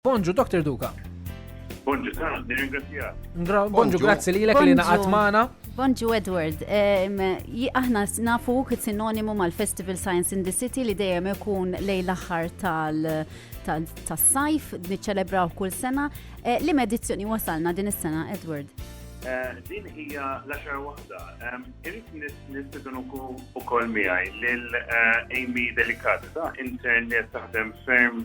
Bonġu, Dr. Duka. Bonġu, ta' nirringrazzjak. Bonġu, grazzi li l-ek li naqat maħna. Bonġu Edward, aħna nafu kit sinonimu mal-Festival Science in the City li dejjem ikun lej l-axar tal-sajf, niċċelebraw kull sena. Eh, li medizzjoni wasalna din is-sena, Edward? Eh, din hija l-axar waħda. Irrit nistidun u kol miħaj l-Amy eh, Delicata, internet taħdem ferm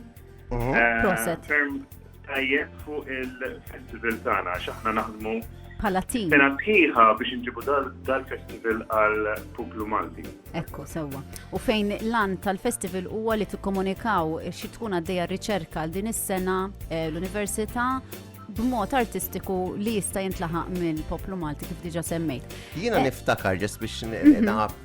Mhm. Eh, Proset. Ferm tajjeb fuq il-festival tagħna għax aħna naħdmu bħala tim. Sena tħiħa biex nġibu dal-festival għal Puplu Malti. Ekku, sewwa. U fejn l-an tal-festival huwa li tikkomunikaw xi tkun għaddejja riċerka għal din is-sena eh, l-Università b'mod artistiku li jista' jintlaħaq minn poplu Malti kif diġa semmejt. Jiena eh. niftakar ġest biex mhm. naqab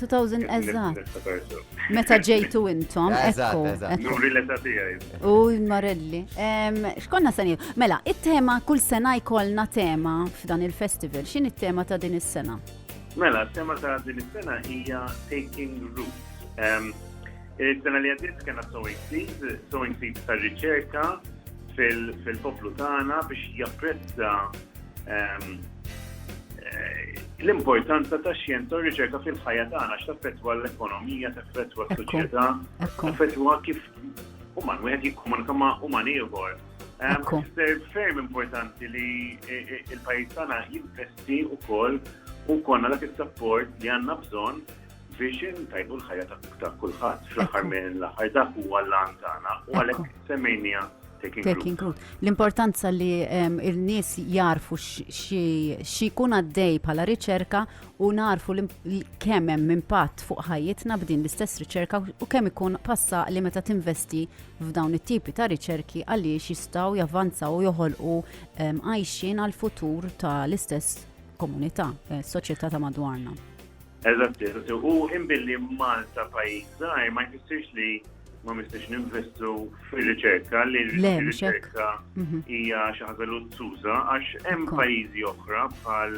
2000 eżatt. Meta ġejtu intom, ekku. Nuri l-età tiegħi. U marelli. X'konna se Mela, it-tema kull sena jkollna tema f'dan il-festival. X'in it-tema ta' din is-sena? Mela, t-tema ta' din is-sena hija Taking Root. Is-sena li għaddiet kena sowing seed, sowing seed ta' riċerka fil-poplu tagħna biex japprezza ehm, l-importanza ta' xjenza u riċerka fil-ħajja tagħna x'taffettwa l-ekonomija, taffettwa s-soċjetà, taffettwa kif uman wieħed jikkomunika ma' uman ieħor. Ser ferm importanti li e, e, il-pajjiż tagħna jinvesti wkoll u konna dak is-sapport li għandna bżonn biex intajbu l-ħajja ta' kulħadd. Fl-aħħar minn l-aħħar dak huwa l-għan tagħna u għalhekk semmejnija Taking Root. L-importanza li ehm, il-nies jarfu xi jkun għaddej bħala riċerka u narfu kemm hemm impatt fuq ħajjitna b'din l-istess riċerka u kemm ikun passa li meta tinvesti f'dawn it-tipi ta' riċerki għaliex jistgħu javvanzaw u joħolqu ehm, għajxin għal futur tal-istess komunità, eh, soċjetà ta' madwarna. Eżatt, eżatt. U imbilli Malta pajjiż żgħir ma jfissirx li ma mistiex ninvestu fir-riċerka li r-riċerka mhm. hija xi ħaġa luzzuża għax hemm pajjiżi oħra bħal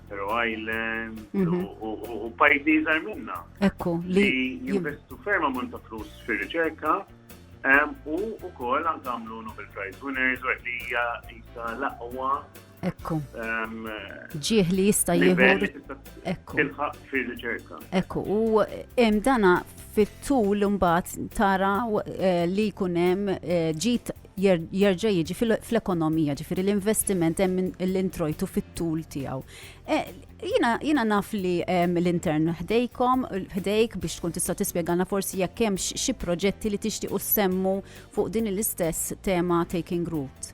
Faroe Island mhm. u pajjiżi iżgħar minna. Ekku li jinvestu ferm ammont ta' flus fir-riċerka u wkoll għandhom Nobel Prize winners u li hija l-aqwa Ekku. Ehm, Ġieħ li jista' jieħu. Ekku. Tilħaq fir-riċerka. Ekku, u hemm dana fit-tul mbagħad tara eh, li jkun hemm eh, ġit jerġa' jiġi fl-ekonomija, ġifieri l-investiment hemm l-introjtu fit-tul tiegħu. Eh, jina, jina naf li l-intern ħdejkom, ħdejk biex tkun tista' tispjegana forsi jekk hemm xi proġetti li tixtiequ semmu fuq din l-istess tema taking root.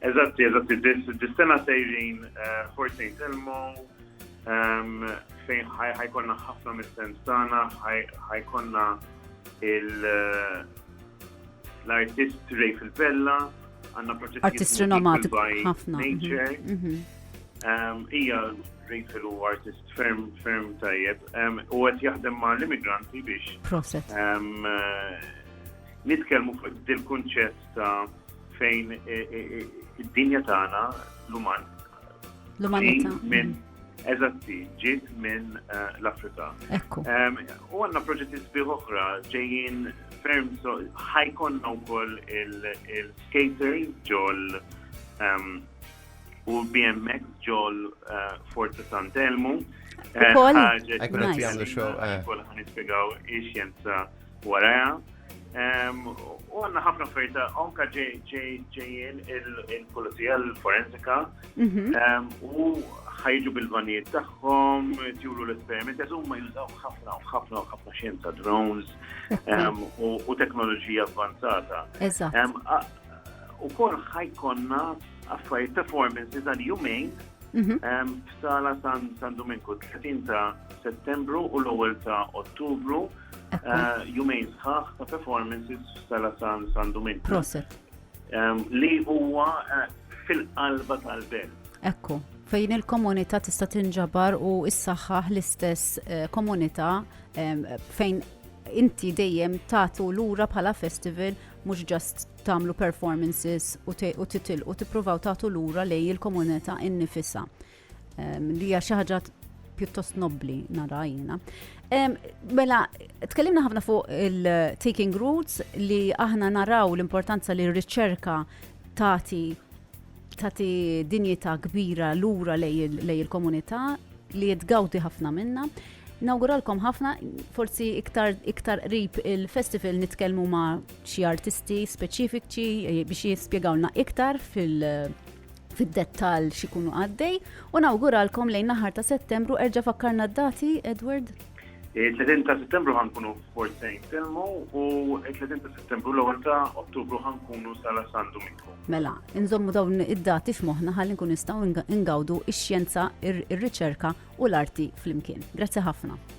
Eżatti, eżatti, dis-sena sejrin eh, Fort St. Elmo, ehm, fejn ħajkonna ħafna mis-sens tagħna, ħajkonna eh, l-artist Ray Filbella, għanna proġett artist rinomatiku ħafna. Mhm, mhm. Ehm, ija Ray Fil u artist ferm ferm tajjeb ehm, u għet jaħdem ma' l-immigranti biex. Proset. Eh, Nitkelmu fuq dil-kunċett Ta' fejn e, e, e, id-dinja tagħna l-uman. L-umanità. Minn eżatti, ġiet minn l-Afrika. Ekku. U għandna proġetti sbieħ oħra ġejjin ferm so ħajkonna wkoll il-skaters ġol u BMX ġol Forza Sant'Elmu. Ukoll. Ekku għamlu xogħol. Ukoll ħanispjegaw ix-xjenza Waraja, u għanna ħafna ferita, onka ġejjien il-polizija l-forensika, mhm. u ħajġu bil-vanijiet tagħhom, tjulu l-esperiment, huma jużaw ħafna u ħafna u ħafna xjenza drones u teknoloġija avvanzata. U kol ħajkonna affarijiet performances għal jumejn mhm. f'sala San Dominku 30 ta' Settembru u l-ewwel ta' Ottubru Jumejn sħaħ ta' performances f'Sala San San Domin. Proset. Li huwa eh, fil-qalba tal-belt. Ekku, fejn il-komunità tista' tinġabar u issaħħaħ l-istess eh, komunità fejn inti dejjem tagħtu lura bħala festival mhux ġast tagħmlu performances u titilqu tippruvaw tagħtu lura lej il-komunità innifisha. Li hija xi ħaġa pjuttost nobbli nara jiena. Mela, tkellimna ħafna fuq il-taking roots li aħna naraw l-importanza li r-riċerka tagħti tagħti dinjità kbira lura lej il-komunità li jitgawdi ħafna minna. Nawguralkom ħafna, forsi iktar iktar qrib il-festival nitkellmu ma' xi artisti speċifiċi eh, biex jispjegawlna iktar fil- fid-dettall xikunu għaddej u nawguralkom lejn naħar ta' settembru erġa' fakkarna d-dati, Edward? 30 ta' settembru ħankunu f'Port Saint Telmo u 30 ta' settembru l-ewwel ta' Ottubru ħankunu sala San Domingo. Mela, inżommu dawn id-dati f'moħħna ħalli nkun nistgħu ngawdu x-xjenza, ir-riċerka u l-arti flimkien. Grazzi ħafna.